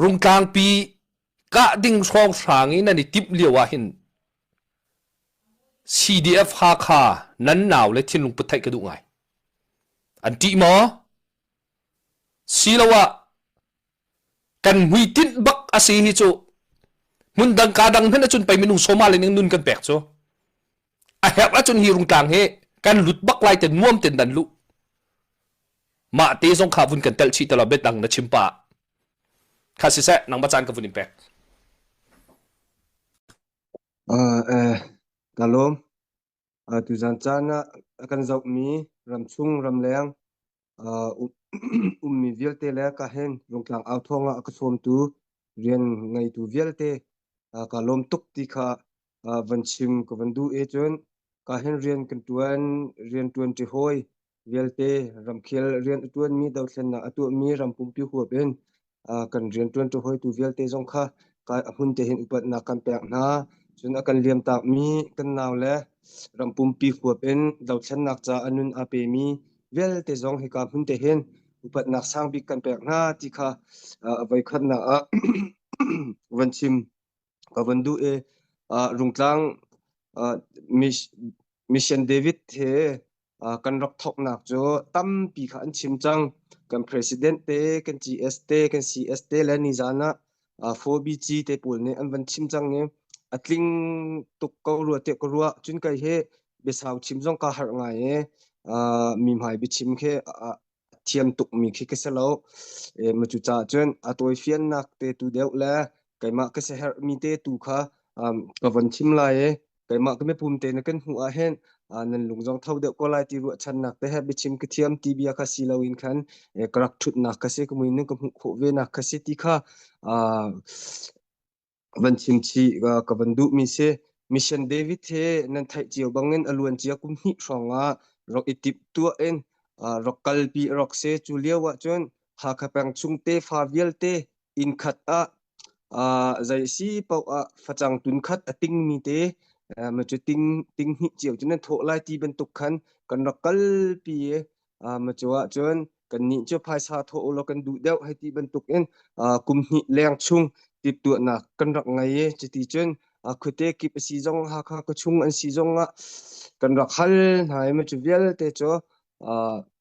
Rungtlangpi kah ding hrawnghrang i nan i timh lio ahhin CDF Hakha nan nau le thinlung put theih ka duh ngai. An ṭih maw? Siloah kan hmuitinh bak a si hi cu hmun dang ka dang hmanh ahcun pei minung sawma le ning nun kan pek cu A herh ahcun hi rungtlang hi kan lut bak lai ten nuam ten dan lu. Mah te zong kha vun kan tel chih talo bet dang na chim pa. Kha si se nang bachan ka vun in pek. Uh, eh, kalom, uh, tu zan chan ah kan zoh mi ram chung ram leng ummi vialte le ka hen rungtlang au thawng ah ka sawmtu rian ngeitu vialte ka lawm tuk ti kha van chim ka van duh e cun ka hen rian kan tuan rian tuan ti hoi vialte ramkhel rian a tuan mi dothlen nak a tuah mi rampumpi huap in kan rianṭuantu hawitu vialte zong kha a hmun te hin upatnak kan pek hna. Cun a kan liamtakmi kan nau le ram pumpi huap in dothlennak ca a nun aa pemi vialte zong hika hmun te hin upatnak sang bik kan pek hna ti kha a voikhatnak ah van chim. ka van duh e rungtlang mission david he kan rak thoknak cu tampi kha an chim cang kan president te kan gs te kan cs te le nizan ah 4bg te pawl nih an van chim cang i a tling tuk ko rua te ko rua cun kai he biasau chim zong ka har ngai e mi hmai biachim khi a thiam tukmi khi ka si lo. Ehm, cucaah cun a tawifiannak te tu deuh le keimah ka siherhmi te tu kha um, ka von thim lai i keimah ka mipum te na kan hmuh ah hin uh, nan lungzong tho deuh ko lai ti ruahchannak te he biachim ka thiam ti bia kha si loin khan eh, ka rak thutnak ka si ka muinin ka hmuh khawh venak ka si ti kha uh, van chim chih ka van duhmi si mission david he nan theih cio bangin a luan cia kum hnih hrawng ah rak i tip tuah in rak kalpi rak se cu lio ahcun hakha peng chung tefa vialte inn khat ah zei si paoh ah facang tun khat a tingmi te ma cu ting hnih cio cu nan thawh lai ti bantuk khan kan rak kalpi Macu ahcun kannih cu phaisa thawh ulaw kan duh deuh hei ti bantuk in kum hnih leng chung timhtuahnak kan rak ngei i cuti cun khuate kip a si zong Hakha khua chung an si zong ah kan rak hal hna i macu vialte cu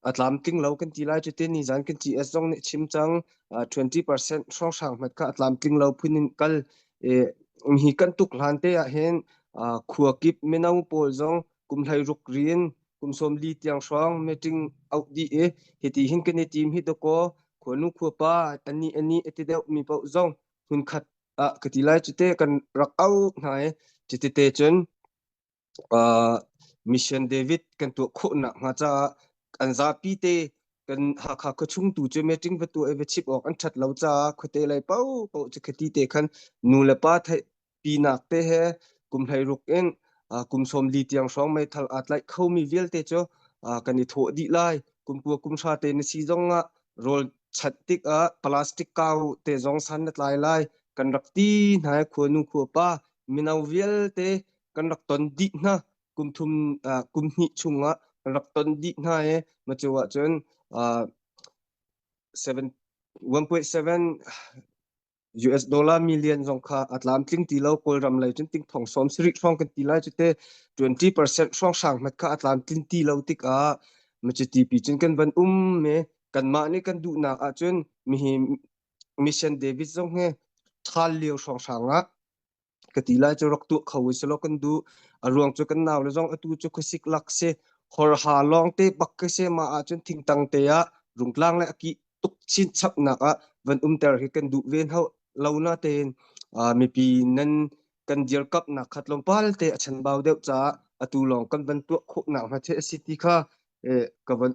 a tlamtling lo kan ti lai cutin nizan kan GS zong nih chim cang 20% hrawnghrang hmat kha a tlamtling lo phun in kal hi kan tuk hlan te ah hin khua kip mino pawl zong kum hlei ruk rin kum som li tiang hrong meeting out di e hiti hin kan i team hi to ko khonu khua pa tani ani ati deuh mi pau zong hun khat a kati lai chite kan rak au hnai chite te chun mission david kan tu kho na nga cha an za pi te kan ha kha ka chung tu che meeting pa tu e chip ok an that lo cha khote lai pau pau che khati te khan nu le pa pinak te he kum hleiruk in kum sawm li tiang hrawng meithal aa tlaih khomi vialte cu kan i thawh dih lai kumpua kumhra te na si zong ah rawl chat tik ah plastic kau te zong san na tlai lai kan rak ti hna khua nu khua pa mino vialte kan rak ton dih hna kum thum kum hnih chung ah kan rak ton dih hna e ma cu ah cun 1.7 US dollar million zong kha a tlam tling ti lo Kawlram lei cun ting thong som sirik hrawng kan ti lai cu te 20% hrawng sang mat kha a tlam tling ti lo tik ah ma cu tipi cun kan van um me kanmah nih kan duh nak ah cun mi hi mission David zong he thal lio hrawng sang ah ka ti lai cu rak tuah kho si lo kan du a ruang cu kan nau le zong atu cu khuasik lak se hor ha lawng te bak ka se ma ah cun thingtang te ah rungtlang le aki tuk chin chap nak ah van um ter hi kan du ven ho lo na ten mipi nan kan dir kap nak khat long pal te a chan bau deuh cha atu long kan van tuak kho nak ma the si ti kha ka van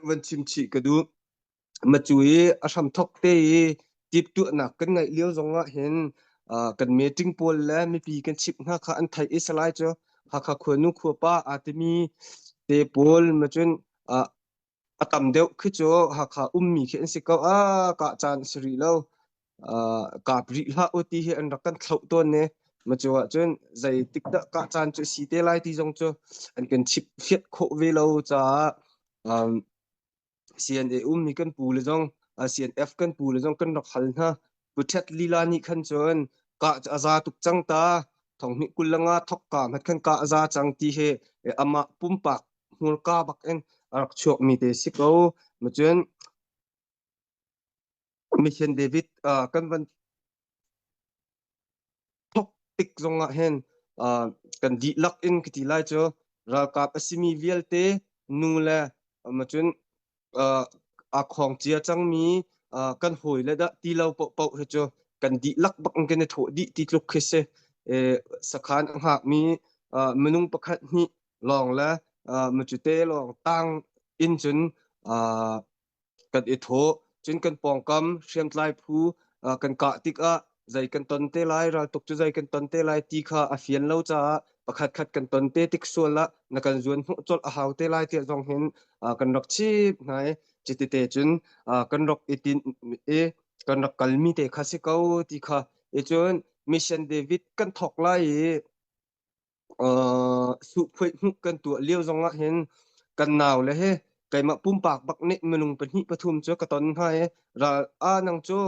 van chim chi ka du macu i a hramthok te i ṭiptuahnak kan ngeih lio zongah hin kan meeting pawl le mipi kan chimh hna kha an theih i salai cu Hakha khuanu khuapa aa timi te pawl macun a tam deuh khi cu Hakha ummi khi an si ko a kah caan a si rih lo kap rih hlah u ti hi an rak kan thloh tawn ne macu ahcun zei tik dah kah caan cu si te lai ti zong cu an kan chimh fiat khawh ve lo caah CNA ummi kan pu le zong CNF kan pu le zong kan rak hal hna Puthet Lila nih khan cun ka a za tuk cang ta thonghni kullanga thok ka mat khan ka a za cang ti he ama pumpak hmur ka bak in a rak chuak mi te si ko ma cun Mission David uh, kan van thok tik zongah hen uh, kan di lak in kiti lai cu ralkap asimi vialte nu le macun uh, a khong cia cangmi uh, kan hoi le da ti lo po po he cu kan di lak bak in kan tho di ti tluk khi se e, sakhan anga mi uh, minung pakhat ni long le uh, machute long tang in chun uh, kan i thawh cun kan pawngkam hriamtlai phu kan kah tikah zei kan ton te lai raltuk cu zei kan ton te lai ti kha a fian lo caah pakhatkhat kan ton te tik sual ah na kan zuan hmuh colh a hau te lai tiah zong hin kan rak chip hna i citite cun kan rak i tin i kan rak kalmi te kha si ko ti kha i cun mission david kan thawk lai i uh, suhphuit hnuk kan tuah lio zong ah hin kan nau le he keimah pumpak bak nih minung pahnih pathum cu ka ton hna i ral a nang cu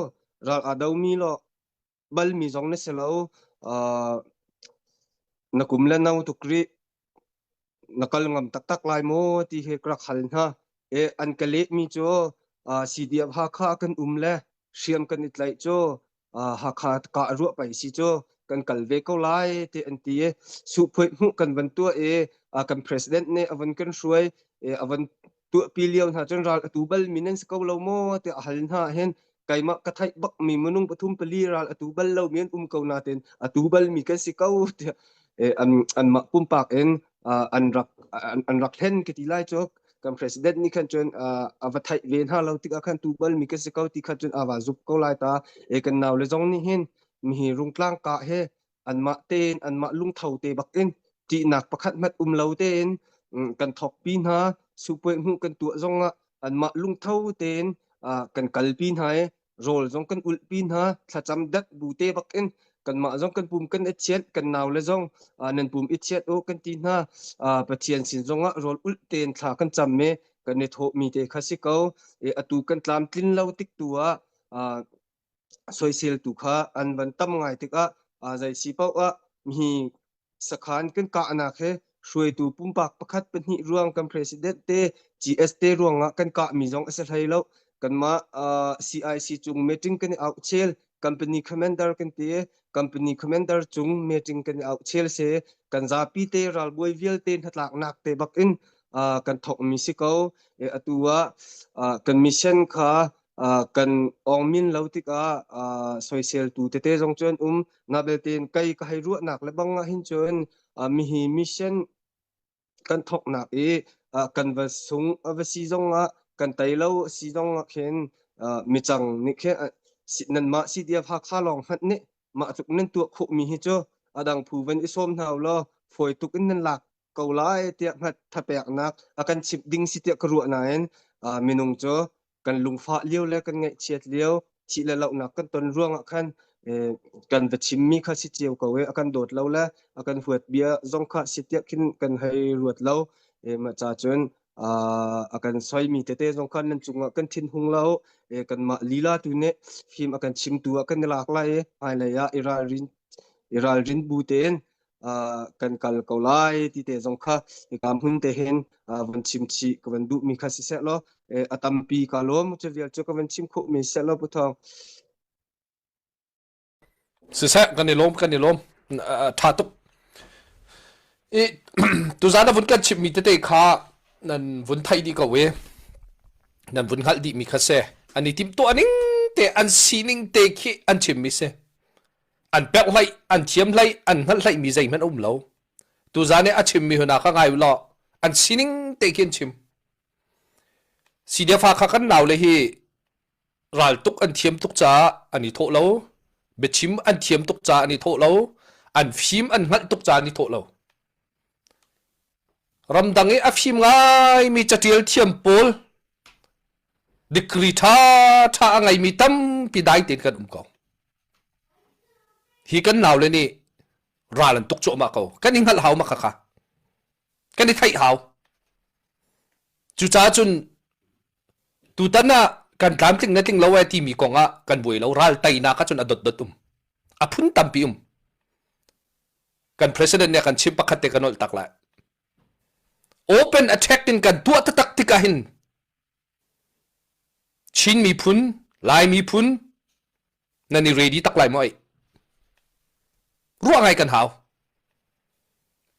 ral a do mi lo bal mi zong na si lo uh, na kum le no tuk ri na kal ngam taktak lai maw ti he ka rak hal hna e an ka leh mi cu uh, si diab ha kha kan um le hriam kan i tlaih cu Hakha ka a ruah peng si cu kan kal ve ko lai ti an ti i suhpuai hmuh kan van tuah i kan president nih a van kan hruai a van tuahpi lio hna cun ral a tu bal mi nan si ko lo maw ti a hal hna hin keimah ka theih bak mi minung pathum pali ral a tu bal lo mi an um ko na ten a tu bal mi kan si ko ti an mah pumpak in an rak an rak hlen ka ti lai cu kan president nih khan cun a va theih ve hna lo tikah khan tu bal mi kan si ko ti khan cun a va zup ko lai ta e kan nau le zong nih hin mi hi rungtlang ka he anmah tein anmah lungtho te bakin ṭihnak pakhat mat um lo tein kan thokpi hna supueng hmuh kan tuah zongah anmah lungtho tein kan kalpi hna i rawl zong kan ulhpi hna thlacam dak bu te bak in kanmah zong kan pum kan i chiat kan nau le zong nan pum i chiat o kan ti hna pathian sin zongah rawl ul ten thla kan cham me kan i tho mi te kha si ko e atu kan tlam tlin lo tik tu a soisel tu kha an van tam ngai tik a zai si pau a mi sakhan kan kahnak he hruaitu pumpak pakhat pahnih ruang kan president te GS te ruangah kan kah mi zong a si hlei lo kanmah uh, CIC chung meeting kan i au chel company commander kan te company commander chung meeting kan i au chel se kan zapi te ral buai vial te hnatlak nak te bak in uh, kan thok mi si ko e atua uh, kan mission kha Uh, kan ong min lo tikah uh, soisel tu tete zong cun um nga belte in kai ka hai ruahnak le bang hin cun uh, mi hi mission kan thok nak i uh, kan va sung uh, va si zong ah kan tai lo si zong ah khin uh, mi chang ni khe nan ma si dia pha kha long hat ni ma tuk nan tu khu mi hi chu adang phu ven i som hnaw lo phoi tuk in nan lak ko lai tia hat thapek nak akan chip ding si tia ka ruah na in uh, minung chu kan lungfah lio le kan ngaihchiat lio thih le lohnak kan ton ruangah khan kan va chimmi kha si cio ko e a kan dawt lo le a kan huat bia zong kha si tiah khin kan hei ruat lo ma ca cun a kan soimi tete zong khan nan cungah kan thin hung lo kanmah lila tu nih fim a kan chimtu a kan i lak lai i hmailei ah i ralrin i ralrin bu tein kan kal ko lai ti te zong kha hika hmun te hin van chim chih ka van duh mi kha si seh law a tampi ka lawm cu vial cu ka van chim khawh mi seh law pu thawng siseh kan i lawm kan i lawm tha tuk i tuzan a vun kan chim mi tete kha nan vun thai di ko e nan vun hngal di mi kha se ani tim to aning te an sining te khi an chim mi se an pek hlei an thiam hlei an hngalh hlei mi zeihmanh a um lo tuzan i a chimmi hna kha ngai u law an sining te khi an chim sidefa kha kan nau le hi raltuk an thiam tuk caah an i thawh lo biachim an thiam tuk caah an i thawh lo an fim an hngalh tuk caah an i thawh lo ramdang i a fim ngai mi catial thiam pawl degree tha tha a ngei mi tampi dai tein kan um ko hi kan naule nih ral an tuk cuahmah ko kan i hngalh hau mak khakha kan i theih hau cucaah cun tutan ah kan tlamtling le tling lo ai timi kong ah kan buai lo ral teinak ah cun a dotdot um a phun tampi um kan president nih kan chim pakhat te kan olh tak lai open attack in kan tuah tatak tik ah hin Chin miphun, Lai miphun nan i ready tak lai maw ai? Ruah ngai kan hau.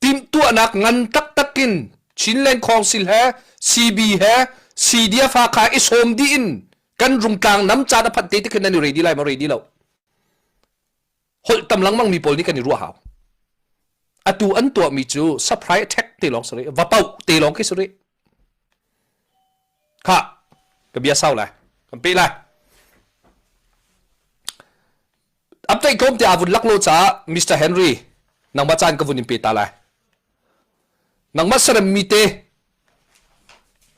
Timhtuahnak ngan taktak in Chinland Council he CB he CDF ha kha i sawm dih in kan rungtlang nam caan a phat te te khin nan i ready lai maw ready lo? holh tam lengmang mi pawl nih kan i ruah hau atu an tuah mi cu surprise attack te lawng si va pau te lawng khi si rih kha ka bia sau lai kan pe lai amtai kom te avun laklo cha Mr Henry nangma chan ka vun in pe ta lai nangma sarem mi te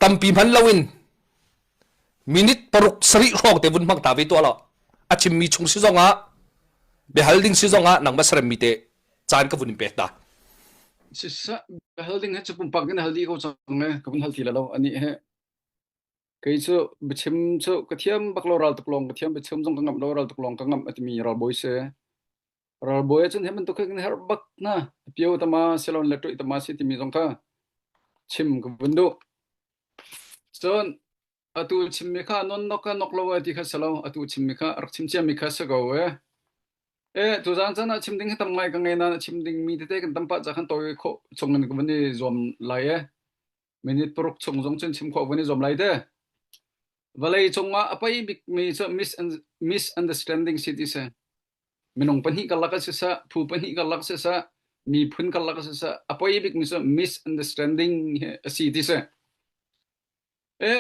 tampi man loin minute paruk sarih hrawng te vun hmang ta ve tuah law a chimmi chung si zong ah biahal ding si zong ah nangmah saremmi te caan ka vun in pek ta sisa hal ding he chapum pak kan hal di ko chang ne ka vun hal ti la lo ani he kei chu bechim chu ka thiam bak lo ral tuk long ka thiam bechim zong ka ngam lo ral tuk long ka ngam atimi ral boy se Ralbawi ahcun hi bantuk hin herh bak na pio tama silon le tui tama si timi zong kha chim ka vun duh. Cun atu chimmi kha non nok ka nok lo e ti kha si lo atu chimmi kha rak chim ciami kha si ko e. E tu zan chan ah chim ding hi tam ngai ka ngei na chim ding mi tete kan tam pa cha khan to khawh chung in ka vun i zuam lai e. minute paruk chung zong cun chim khawh van i zom lai te vawlei cungah a pei bik mi cu misunderstanding si ti se minung pahnih karlak si sa phu pahnih karlak si sa miphun karlak si sa a pei bik mi cu misunderstanding hi a si ti se e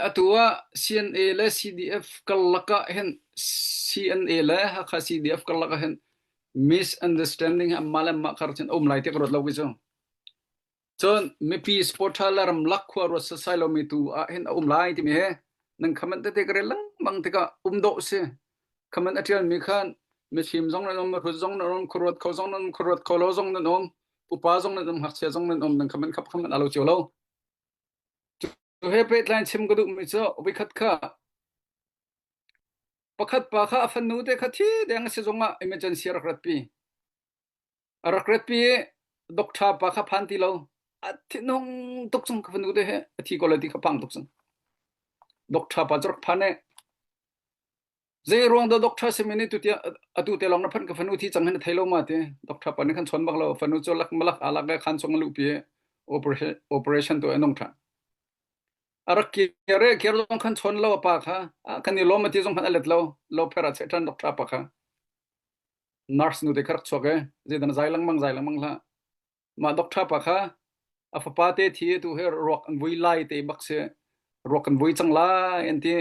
atu ah CNA le CDF karlaka hen CNA le Hakha CDF karlaka hen misunderstanding ha ma le ma khar chen om lai te rot lo wi chu Cun mipi sports la ramlak khua ruat sasai lomi tu ah hin a um lai timi hi nan khaman tete ka lengmang tikah um dawh si khaman a ṭialmi khan mifim zong nan um mihrut zong nan um khuruat kho zong nan um khuruat kho lo zong nan um upa zong nan um hngakchia zong nan um nan khaman khap khaman a lo cio lo cu he pehtlain chim ka duhmi cu ubi khat kha pakhat pa kha a fanu te kha thi deng si zongah emergency rak ratpi A rak rat pi i doctor pa kha phan ti lo. A thinhung tuk cang ka fanu te he a thi ko lai ti kha phang tuk cang. Doctor pa cu rak phan e. Zei ruang da doctor simi nih tu atu te long na phan ka fanu thi cang hin a thei lo ma te. Doctor pa nih khan chon bak lo fanu cu lak malak alak ga khan chung lu pi operation to anong tha. A rak kire kir zong khan chon lo pa kha kan i lom ti zong khan alet lo lo phera che than doctor pa kha. nurse nu te khark chuak e je dan zai lang mang zai lang mang la ma doctor pa kha a fapa te thi tu he ruak an vui lai te bak se ruak kan vui chang lai an ti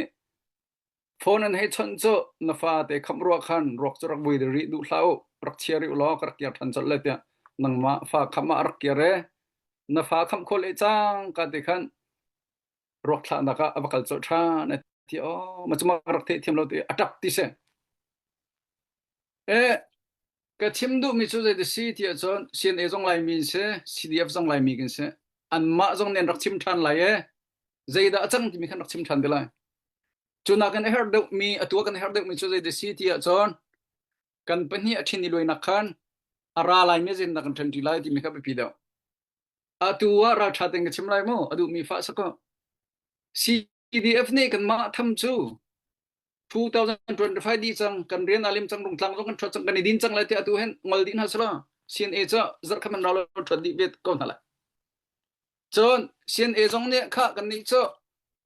phone an he chon cho na fa te kham ruak khan ruak chu rak vui de ri du hlau rak chia ri lo ka rak kia than chol le tia nang ma fa kham ma rak kia re na fa kham khol e chang ka te khan ruak thlahnak ah a va kal colh ṭhan a ti aw ma cumah ka rak theihthiam lo ti a ṭap ti si e ka thim duhmi cu zei ti si ti ahcun CNA zong Laimi in si CDF zong Laimi kan si anmah zong nih an rak chim ṭhan lai e zeidah a cang timi khan rak chim ṭhan te lai cu nakin a herh deuhmi a tua kan a herh deuhmi cu zei ti si ti ahcun kan pahnih a ṭhin i luainak khan a ra laimi zinnak kan ṭhen ṭi lai timi kha biapi deuh Atu ah ralṭha tein ka chim lai maw? A duhmi fa a kaw. CDF nih kanmah tham cu 2025 dih cang kan rian a lim cang rung tlang zong kan ṭhuat cang kan i din cang lai tiah atu hen ngol din hna sila CNA cu zarh khaman rau lo ṭhuat dih ve ko hna lai. Cun CNA zong nih kha kannih cu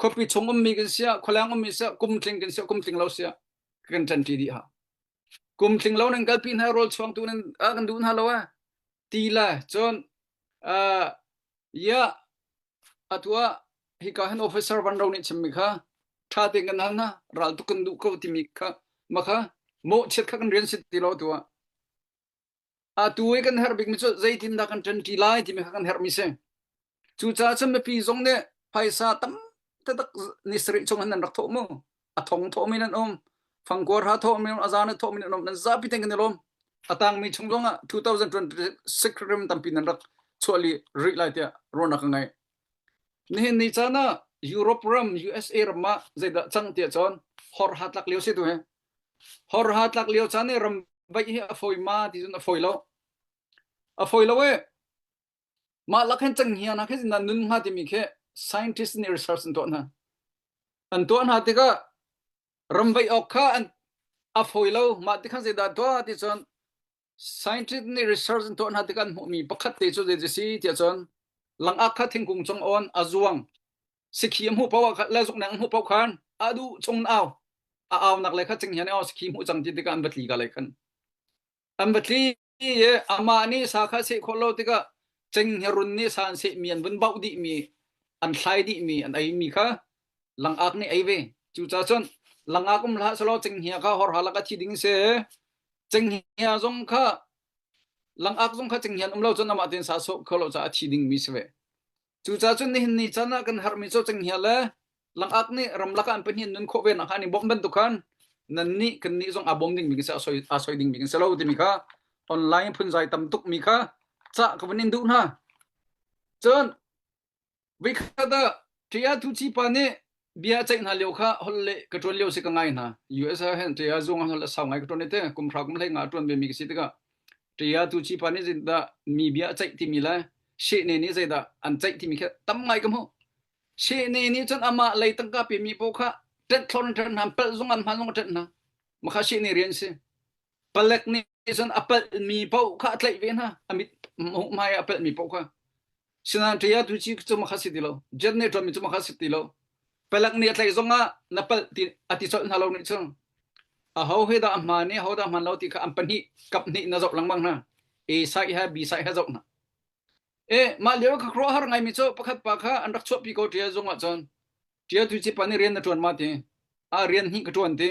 khuapi chung ummi kan siah khualeng ummi siah kum tling kan siah kum tling lo siah kan ṭanṭi dih ha kum tling lo nan kalpi hna rawl chuangtu nan ah kan duh hna lo a ti la cun uh, ya atua hika han officer van ro nih chimmi kha ṭha te kan hal na ral tu kan duh ko timi kha makha mawh chiat kha kan rian sit ti lo tua Atu i kan herh bikmi cu zeitindah kan ṭanṭi lai timi kha kan herhmi si. Cucaah cun mipi zong nih phaisa tam taktak ni sarih chung khan an rak thawh mu. A thong thawhmi nan um, fangkuar ha thawhmi um, a zaan a thawhmi nan um, nan zapi ten kan i lawm. A tangmi chung zong ah 2026 rim tampi nan rak chuahli rih lai tiah ruahnak ka ngeih. Nihin ni caan ah Europe ram, USA ram ah zeidah cang tiah cun hor ha tlak lio si tu hi. Horha tlak lio caan i ramvaih hi a fawi ma ti cun a fawi lo. A fawi lo e. Mah lak hin cenghngia hna khi zindan nun hnga timi khi scientist nih research an tuah hna. An tuah hna tikah ramvaih awk kha an a fawi lo. Mah tikhan zeidah tuah ti cun Scientist nih research an tuah hna tikah an hmuhmi pakhat te cu zeitik si tiah cun langak kha thingkung cung awn a zuang sikhi a hmuh paoh le zukneng an hmuh paoh khan a duh chung au a aunak le kha cinghian au sikhi hmuh cang ti tikah an va tli ka lai khan an va tli i amah nih sa kha seh khawh lo tikah cenghngerun nih sa an seh mi an vun bauh dih mi an thlai dih mi an ei mi kha langak nih ei ve cuca cun langak um hlah selaw cenghngia kha hor halak a thi ding se cenghngia zong kha langak zong kha cenghngian um lo cun amah tin sa so kho lo ca a thi ding mi si ve cuca cun nihin ni chan ah kan har mi co cenghngia le langak nih ramlak an pahnih nun khawh ve nak hani bom ban tu khan nan ni kan ni zong a bom ding mi ka se asoi asoi ding mi ka se lo ti mi kha online phun zai tam tuk mi kha cha ka van in du hna cun Veikhat ah Ṭaya tuci pa nih bia a ceih hna lio kha holh le ka ṭuan lio si ka ngai hna. US ah hin Ṭaya zung ah holh a sau ngai ka ṭuan i teh kum hra kum hlei nga a ṭuan vemi ka si tikah Ṭaya tuci pa nih zindah mi bia a ceih timi le Shehne nih zeidah an ceih timi kha tam ngai ka hmuh. Shehne nih cun amah lei tangka pemi pawl kha ṭenhthlor in ṭhen hna, palh zung an hman zung a ṭhen hna. Makha Shehne rian si. Palek nih cun a palhmi paoh kha a tlaih ve hna. A mit hmai ah a palhmi paoh kha. Sinain ṭhei atu ci cu makha si ti lo. Jet nih ṭuanmi cu makha si ti lo. Palek nih a tlaih zong ah na palh ti a ti colh hna lo nih cun aho he dah a hmaan i ho dah a hmaan lo ti kha an pahnih kap hnih na zoh lengmang hna. A side he B side he zoh hna. E mah lio ka khuaruahhar ngaimi cu pakhat pa kha an rak chuahpi ko ṭia zung ah cun ṭia tu ci pan i rian na ṭuan ma ti. A rian hi ka ṭuan ti.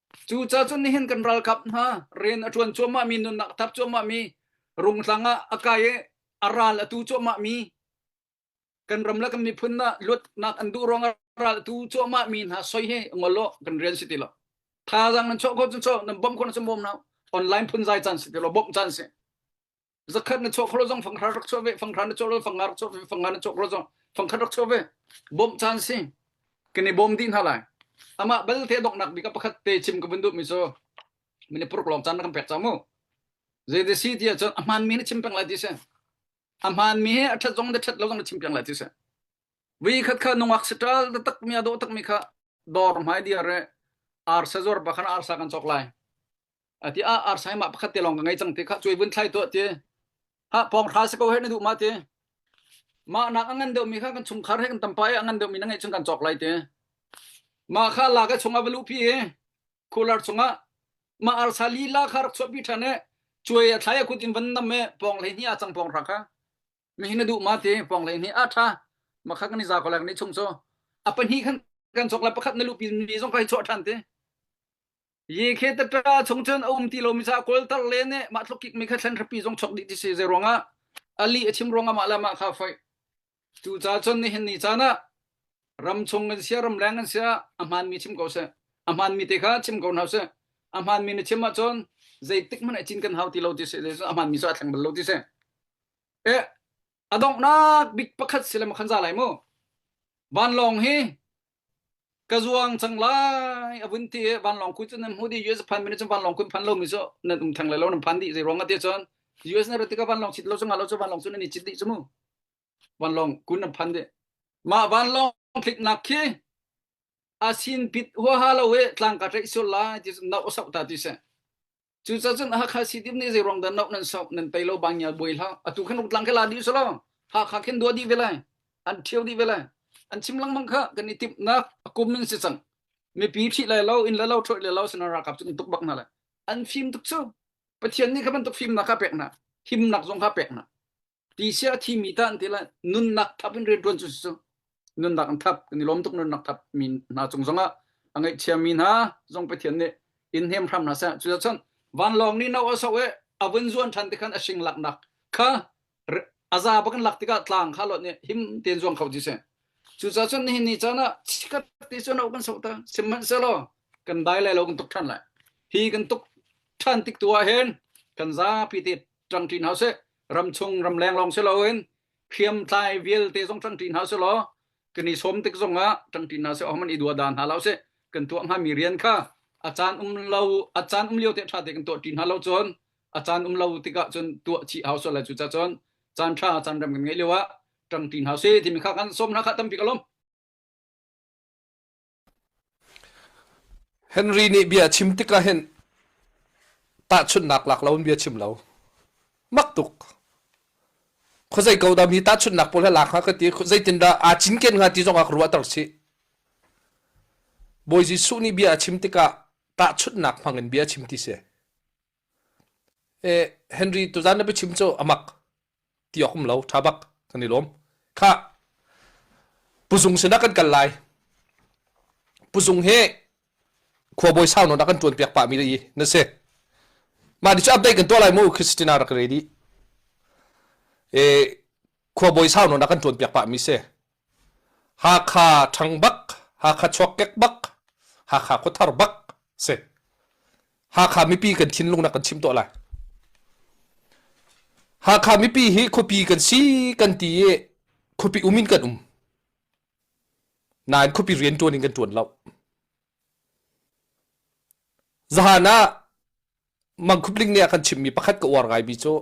Cucacun nihin kan ralkap hna rian a ṭuan cuahmah mi, nunnak a thar cuahmah mi, rungtlang ah a kai i a ral a tu cuahmah mi, kan ram le kan miphun ah luatnak an duh ruangah ral a tu cuahmah mi hna soi hi ngol law kan rian si ti lo. Thaazang nan chawh ko cun chaw, nan bawm ko cun bawm hna. Online phun zai caan si ti lo, bawmh caan si. zakhat na chawk kholo zong fanghra rak chaw ve fanghra na chaw lo fangar chaw ve fangar na chawk kholo zong fangkhat rak chaw ve bom chan si kini bom di hna lai ama bal te dok nak bika pakhat te chim ka bundu mi so mine puruk long chan na kan pek cha mu je de si dia chon ahman mi ne chim peng lai ti se ahman mi he athat zong de that lo zong na chim peng lai ti se vi khat kha nungak sital da tak mi ado tak mi kha dor mai dia re ar sezor bakhan ar sa kan chok lai ati a ar sai ma pakhat te long ka ngai chang te kha chui vun thlai to ti ha pong hra se ko he na du ma ti ma nak angan deuh mi kha kan chung khar he kan tampa e angan deuh mi na ngai chung kan chok lai te ma kha la ka chung avalu pi khular chunga ma ar sa li la khar chop bi thane chui a thlai kut in van nam me pong le ni a chang pong ra kha mi hina du ma ti pong le ni a tha ma kha kan ni za ko lak ni chung so apa ni khan kan chok la pakhat na lu pi mi zong kai cho than te Yekhe tatra chung cun a um ti lomi ca kawltar le nih mah tluk kikmi kha thlen hrapi zong chok dih ti si zei ruangah ali a chim ruangah mah le mah kha fai cu ca cun nihin ni caan ah ram chung in sia ram leng in sia a hmaanmi chim ko seh a hmaanmi te kha chim ko hna seh a hmaanmi na chim ahcun zeitik hmanh cin kan hau ti lo ti seh a hmaanmi cu a thleng bal lo ti seh e a donghnak bik pakhat si le makhan za lai mu vanlawng hi ka zuang cang lai a vun ti vanlawng kuin cun nan hmu di US phan mini cun vanlawng kuin phan lo mi cu nan um thang lai lo nan phan di zei ruang ate chon US na rati ka vanlawng chit lo chu nga lo chu vanlawng chu nan i chit di chu mu vanlawng kun nan phan de ma vanlawng thlik nak khi asin pit hua ha lo e tlang ka ṭe sul lai ti no sau ta ti se Cucacun cun Hakha City nih zeiruang dah nok nan sok nan tei lo bang nyal buai hlah atu khan rutlang ke la di sala Hakha khin dua di vele an thiau di vele an chim langmang kha kan i tip nak akum min si chang mipi thi lai lo in le lo thoi le lo sina rakap chu tuk bak na le an fim tuk chu Pathian nih kha bantuk fim na ka pek na him nak zong ka pek na ti sia thi mi tan ti la nunnak thap in rian tuan cu su nunnak an thap kan i lom tuk nunnak thap mi hna chung zong ah a ngai chia mi hna zong pe thian nih in hem hram hna sa cu chon van long ni no aso e avun zuan than te khan ashing lak nak kha aza bakan lak tikah tlang kha lot ni him ten zuang khau ji se cu cha chon ni ni chana chikat ti chon kan so ta siman se lo kan dai lai lo kan tuk than lai hi kan tuk than tik tua hen kan za pi te tang thin hause ramchung ramleng lawng si loin hriamtlai vialte zong ṭangṭi hna si law kan i sawm tik zongah ṭangṭi hna si awman i dua da hna lo si kan tuah hngami rian kha a caan um lo a caan um lio te ṭha te kan tuah ṭi hna lo cun a caan um lo tikah cun tuah chi hau so la cu ca cun caan ṭha caan rem kan ngeih lio ah ṭangṭi hna si timi kha kan sawm hna kha tampi ka lawm Henry nih bia a chim tikah hin tahchunhnak lak lo in bia a chim lo. Mak tuk. Khuazei ko dah mi tahchunhnak pawl he lak hnga ka ti, zeitindah aa cinken hnga ti zongah ka ruahter sih. Bawi Jesuh nih bia a chim tikah tahchunhnak hmang in bia a chim ti si. E, Henry tuzan na biachim cu amak. ti awk um lo ṭha bak kan i lawm khah puzung sinah kan kal lai puzung hi khuabawi sau nawn ah kan ṭuan piak pah mi i na si mah di cu update kan tuah lai mu christina rak ready e khuabawi sau nawn ah kan ṭuan piak pah mi si Hakha ṭhang bak, Hakha chuakkek bak, Hakha khuathar bak a si. Hakha mipi kan thinlung nak kan chim tuah lai. Hakha mipi hi khuapi kan si kan ti i khuapi um in kan um. Nain khuapi rian ṭuan in kan ṭuan lo. Zahan ah mangkhup ling nih a kan chimmi pakhat ka uar ngaimi cu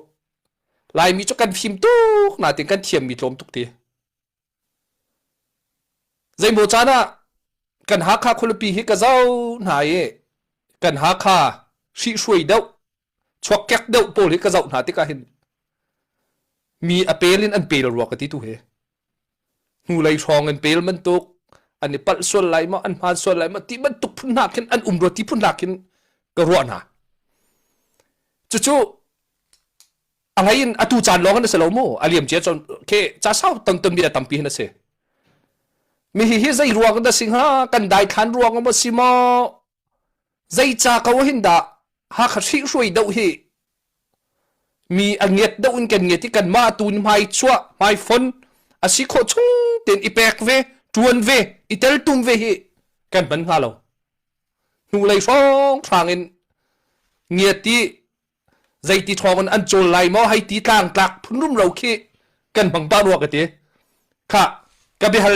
laimi cu kan fim tuk natin kan thiammi tlawm tuk ti zeimaw caan ah kan hakha khualipi hi ka zau hna i kan hakha hri hruai deuh chuak kek deuh pawl hi ka zauh hna tikah hin mi a pel in an pel rua ka ti tu he hnulei hrawng in pel bantuk an i palh sual lai maw an hmaan sual lai maw ti bantuk phun hna khin an um rua ti phun hna khin ka ruah hna cucu a ngai in atu caan lawng an si lo mu a liam cia chon ke ca sau ton ton mi tampi hin a si mi hi hi zei ruang dah si hnga kan dai thlan ruang maw si maw Zeica ko hin dah Hakha hrihhruai doh hi mi a ngiat doh in kan ngiat i kanmah tu nih hmai chuah hmai fon a si khawh chung tein i pek ve ṭuan ve i teltum ve hi kan hman hnga lo hnulei hrawnghrang in ngiat i zeiti ṭhawng in an cawl lai maw hei ti tlang tlak phunrum ro khi kan hmang pah rua ka ti kha ka biahal